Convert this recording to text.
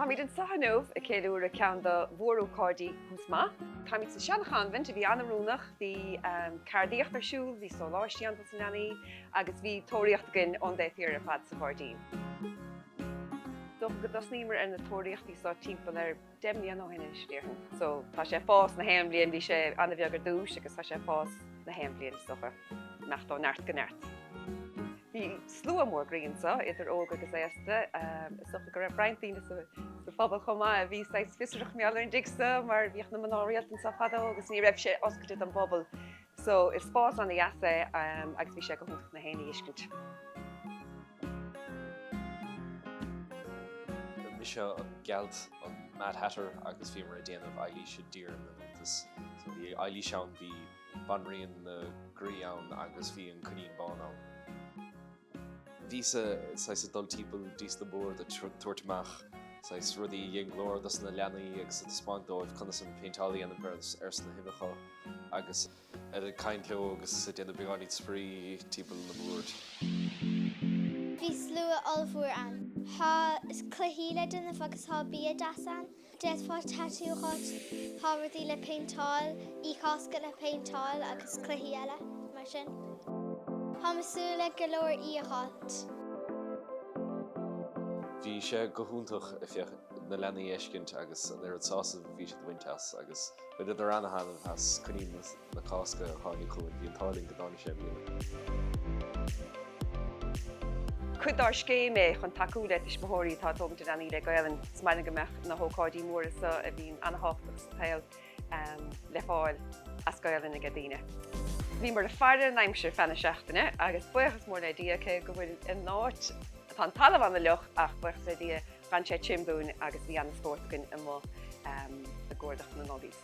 Táimid anseo inniu ag ceiliúradh ceann do mhór-ócáidí Tús Maith. Táimid sa sean-chanbhint a bhí ana-oiriúnach, bhí ceardaíocht ar siúl, bhí sóláistí ann dos na leanaí agus bhí tóraíocht againn don dtarna huair ar fad sa ghairdín. Dócha go dtosnaíomar ar na tóraíochtaí seo timpeall ar. Deich mbliana ó shin anois, déarfainn. So, tá sé ag fás na haon bhliain, bhí sé an-bheag ar dtús agus tá sé ag fás na haon bhliain, is dócha. Ag imeacht ó neart go neart. Bhí slua mór groí anseo, idir óg agus aosta. Is dócha go raibh roinnt daoine sa phobal chomh maith a bhí saghas fiosrach mar gheall ar an dtigh seo mar bhíodh na mná rialta anseo fadó agus ní raibh sé oscailte don bpobal. So is spás an-dheas é agus bhí sé go hiontach dóibh é sin a fheiscint. Mise an gealt, an Mad Hatter agus bhíomar ag déanamh Eilís i dTír na nIontas. So bhí Eilís ann, bhí Banríon na gCroíthe ann agus bhí an Coinín Bán ann. Bhíos-sa saghas ag dul timpeall dtí sna boird ag tabhairt amach saghas rudaí a dhein glór dos na leanaí agus ag taispeáint dóibh conas an péinteáil a dhéanamh ar sna huibheacha agus ag caint leo agus ag déanamh beagáinín spraoi timpeall na mbord. Bhí slua ollmhór ann. Thá cluichí le déanamh agus thá bia deas ann. D'fhéadfá tatú a fháilt, tá bataí le péinteáil, uibhe Cásca le péinteáil agus cluichí eile mar sin. Táim ag súil le go leor uibhe a fháilt. Bhí sé go hiontach, a, na leanaí a fheiscint agus an oiread sásaimh a bhí siad a bhaint as agus. Bhaineadar ana-thaitneamh as coinín na Cásca a tháinig chugainn. Bhí an t-ádh linn go dtáinig sé i mbliana. Cuid dár scéim é chun tacú le tuismitheoirí atá ag tógaint a leanaí le Gaelainn is maith linn go mbeadh na hócáidí móra so a bhíonn ana-thábhachtach sa tsaol le fáil as Gaelainn aige daoine. Bhíomar ag faire an aimsir feadh na seachtaine agus buíochas mór le Dia cé go bhfuil an áit, tá an talamh ana-fhliuch ach buíochas le Dia, D'fhan sé tirim dúinn agus bhí ana spórt againn amuigh ag cuardach na n-ubh.